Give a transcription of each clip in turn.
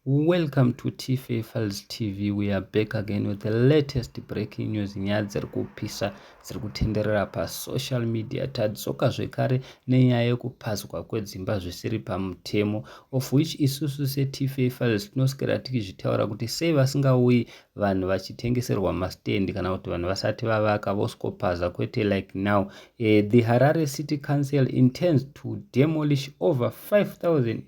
Welcome to TFA Files TV. We are back again with the latest breaking news nyaya dziri kupisa dziri kutenderera pasocial media. Tadzoka zvekare nenyaya yekupazwa kwedzimba zvisiri pamutemo of which isusu seTFA Files tinoswera tichizvitaura kuti sei vasingauyi vanhu vachitengeserwa mastendi kana kuti vanhu vasati vavaka voskopaza kwete like now. Uh, the Harare City Council intends to demolish over 5000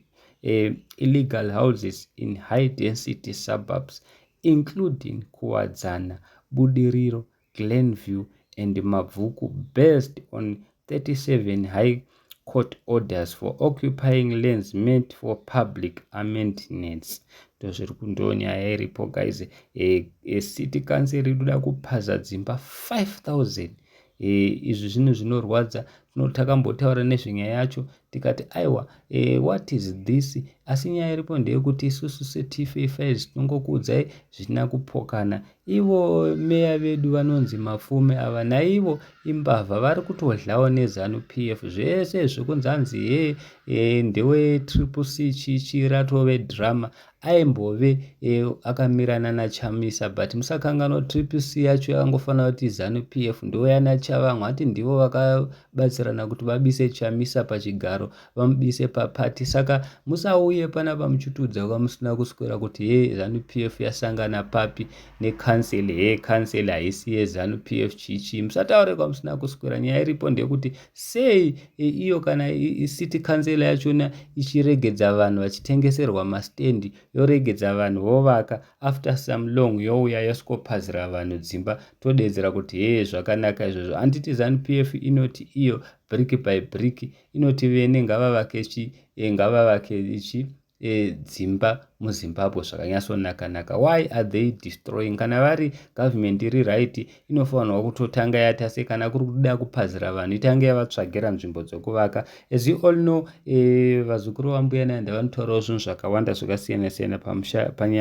uh, illegal houses in high density suburbs including Kuwadzana, Budiriro, Glenview and Mabvuku based on 37 high court orders for occupying lands meant for public amendments ndozviri kundonyaya iripo guys e, eh, e eh, city council rikuda kuphaza dzimba 5000 e, eh, izvi zvinhu zvinorwadza tinoti takambotaura nezvenyaya yacho tikati aiwa eh, what is this asi nyaya iripo ndeyekuti isusu setfa tinongokuudzai zvitina kupokana ivo meya vedu vanonzi mafume ava naivo imbavha vari kutodlawo nezanu p f zvese zvekunzi anzi he e, ndewe triple c chichi ratove drama aimbove e, akamirana nachamisa but musakanganwa kuti tripc yacho yakangofanira kuti zanu p f ndivo yana chavamwe hati ndivo vakabatsirana kuti vabise chamisa pachigaro vamubise papati saka musauye pana vamuchitiudza kuva musina kuswera kuti he zanu p f yasangana papi necancel he cancel haisi yezanu p f chichii musataure kwamusina kuswera nyaya iripo ndeyekuti sei iyo kana city council yachona ichiregedza vanhu vachitengeserwa mastand yoregedza vanhu vovaka after some long youya yosvikophazira vanhu dzimba todeedzera kuti hee zvakanaka izvozvo handiti zanup f inoti iyo brick by brick inoti vene ngavavake chi eh, ngavavake chi eh, dzimba muzimbabwe zvakanyatsonaka naka why are they destroying kana vari government iri right inofanirwa kutotanga yatase kana kuri kuda kupazira vanhu itange yavatsvagira nzvimbo dzokuvaka as you all know eh, vazukuru vambuya nanda vanotaurawo zvinhu zvakawanda zvakasiyana siyana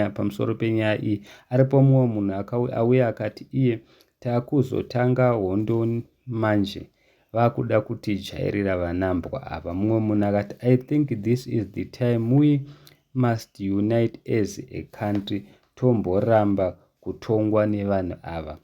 pamusoro penyaya iyi aripo mumwe munhu auya akati iye takuzotanga hondo manje vakuda kutijairira vanambwa ava mumwe munhu akati i think this is the time we must unite as a country tomboramba kutongwa nevanhu ava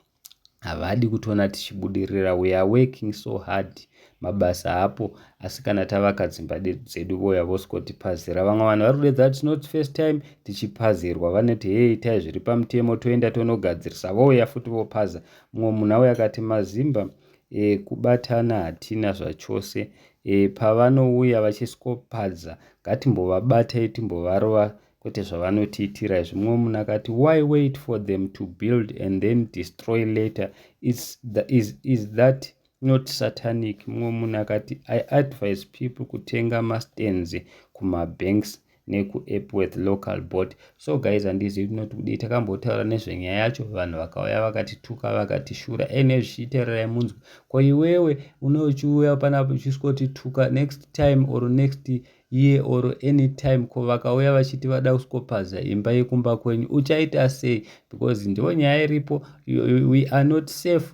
havadi kutona tichibudirira we are working so hard mabasa hapo asi kana tavaka dzimba dzedu voya vosikotiphazira vamwe vanhu vari kudedza kuti not first time tichiphazirwa vanoti hei itai zviri pamutemo toenda tonogadzirisa vouya futi vophaza mumwe munhu auya akati mazimba e, kubatana hatina zvachose e, pavanouya vachisikopadza ngatimbovabatai timbovarova kwete zvavanotiitira izvi mumwe munhu akati why wait for them to build and then destroy later is, the, is, is that not satanic mumwe munhu akati i advise people kutenga mastands kumabanks nekuepworth local board so guys handizivi kuti noti kudii takambotaura nezvenyaya yacho vanhu vakauya vakatituka vakatishura ene zvichiitererai munzwi ko iwewe une uchiuya panapo uchiswotituka next time or next year or any time ko vakauya vachiti vada kuskopaza imba yekumba kwenyu uchaita sei because ndivo nyaya iripo we are not safe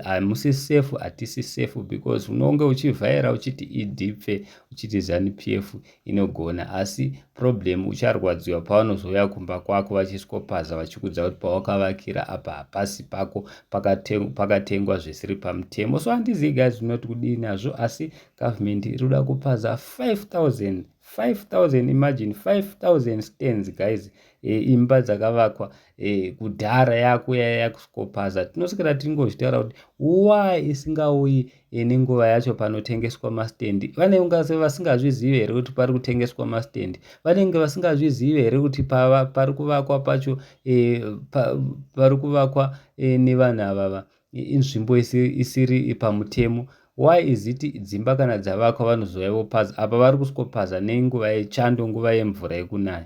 hamusi safe hatisi safe because unonge uchivhaira uchiti idipfe uchiti zanupf inogona asi problem ucharwadziwa pavanozouya kumba kwako vachisikopaza vachikudza kuti pawakavakira apa hapasi pako pakatengwa zvisiri pamutemo so handizivi guys zvinoti kudii nazvo asi government iri kuda kupaza 5000 5000 imagine 5000 stands guys e, imba dzakavakwa e, kudhara yakuya yakuskopaza tinoswera tingozvitaura kuti why isingauyi e, nenguva yacho panotengeswa mastendi vanenge vasingazvizive here kuti pari kutengeswa mastendi vanenge vasingazvizive here kuti pari kuvakwa pacho e, pa, pari kuvakwa e, nevanhu avava inzvimbo isiri pamutemo why is it dzimba kana dzavakwa vanozouya vopaza apa vari kuskopaza nenguva yechando nguva yemvura yekunaya